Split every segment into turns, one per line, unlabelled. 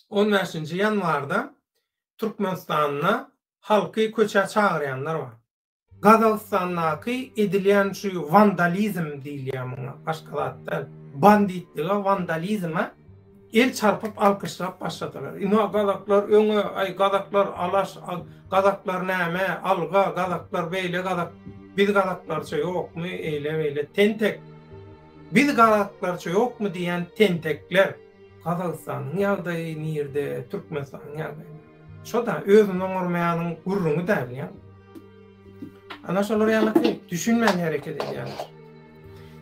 On bäşinji ýanwarda Türkmenistanda halky köçä çagyrýanlar bar. Gazagystandaky edilýän şu wandalizm diýilýär muňa, başga zat däl. Banditlige, wandalizme el çarpyp alkyşlap başladylar. Ina gazaklar öňe, aý gazaklar alaş, gazaklar näme, alga, gazaklar beýle gazak, biz gazaklarça ýokmy, eýle-beýle, tentek. Biz gazaklarça ýokmy diýýän tentekler. Gazagystanyň ýagdaýy nirde Türkmenistanyň ýagdaýy nirde. Şo da özüni oňarmaýanyň gürrüňi däl ýa. Ana şolar ýalyky düşünmän hereket edýärler.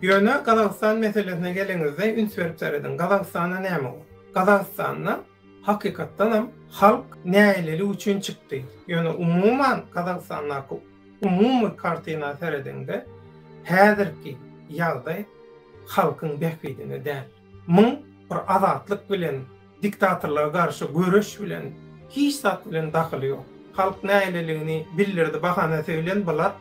Ýöne Gazagystan meselesine geleňizde üns berip serediň. Gazagystanda näme bor? Gazagystanda Hakykatdanam halk nälelik üçin çykdy? Ýöne umuman Gazagystandaky umumy kartina serediňde häzirki ýagdaý halkyň bähbidine däl. Muň bir azatlyk bilen, diktatorlyga garşy göreş bilen, hiç zat bilen dahyly ýok. Halk näleligini bildirdi, bahana söýlen bular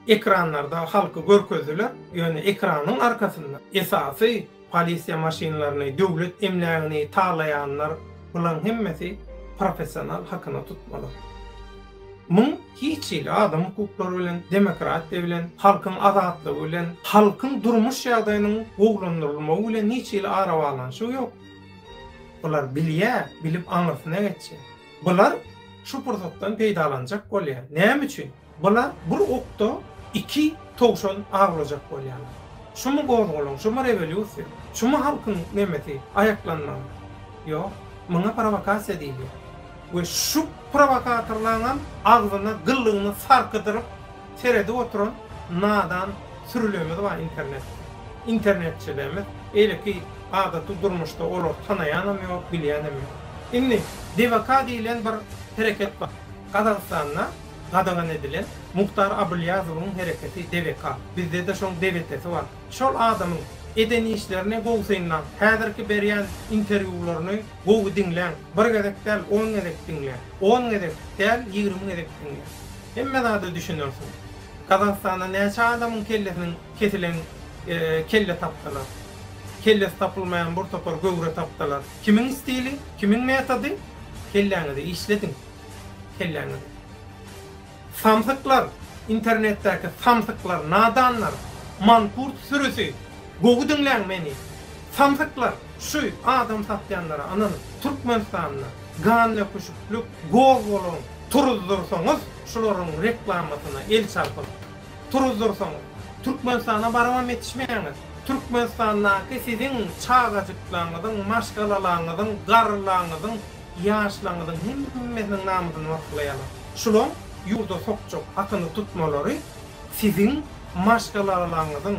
ekranlarda halky görkezdiler, ýöne ekranyň arkasynda esasy Polisiýa maşynlaryny, döwlet emlägini talaýanlar, bulaň hemmesi professional hakyna tutmalar. Muň hiç hili adam hukuklary bilen, demokratiýa bilen, halkyň azatlygy bilen, halkyň durmuş ýagdaýynyň gowlandyrylmagy bilen hiç hili arabaglanyşygy ýok. Bular bilýä, bilip aňyrsyna geçýä. Bular şu pursatdan peýdalanjak bolýa. Näme üçin? Bular bir okda iki towşan awlajak bolýarlar. Şumy gozgalaň, şumy rewolýusiýa, şumy halkyň nemesi, aýaklanmagy? Ýok, muňa prowokasiýa diýilýär. We şu prowokatorlaňam agzyna gyllygyny sarkydyryp seredip oturan nadan sürülerimiz bar internetde. Internetçilerimiz, eýleki adaty durmuşda olary tanaýanam ýok, bilýänem ýok. Indi DVK diýlen bir hereket bar. Gazagystanda gadagan edilen Muhtar Abylýazowyň hereketi debeka. Bizde-de şoň debetesi bar. Şol adamyň eden işlerini gowy synlaň. Häzirki berýän interwýularyny gowy diňläň. Bir gezek däl, on gezek diňläň. On gezek däl, ýigrimi gezek diňläň. Hemme zada düşünersiň. Gazagystanda näçe adamyň kellesiniň kesilen kelle tapdylar. Kellesi tapylmaýan bir topar göwre tapdylar. Kimiň stili, kimiň metody? Kelläňizi işlediň. Kelläňizi. Samsyklar, internetdäki samsyklar, nadanlar, mankurt sürüsi, gowy diňläň meni. Samsyklar, şu adam satýanlara ynanyp, Türkmenistanda gandöküşiklik, gozgalaň turuzdyrsaňyz, şularyň reklamasyna el çarpyp, turuzdyrsaňyz, Türkmenistana barybam ýetişmeýäňiz. Türkmenistandaky siziň çagajyklaňyzyň, maşgalalaňyzyň, garrylaňyzyň, Ýaşlaryňyzyň hemmesiniň namysyny waspylaýarlar. Şulaň ýurda sokjak akyny tutmalary siziň maşgalalaryňyzyň,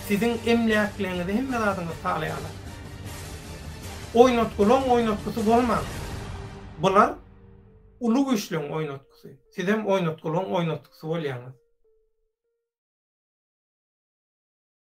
siziň emläkleňizi hemme zadyňyzy talaýarlar. Oýnatgylaň oýnatgysy bolman, bular uly güýçleň oýnatgysy. Sizem oýnatgylaň oýnatgysy bolýaňyz.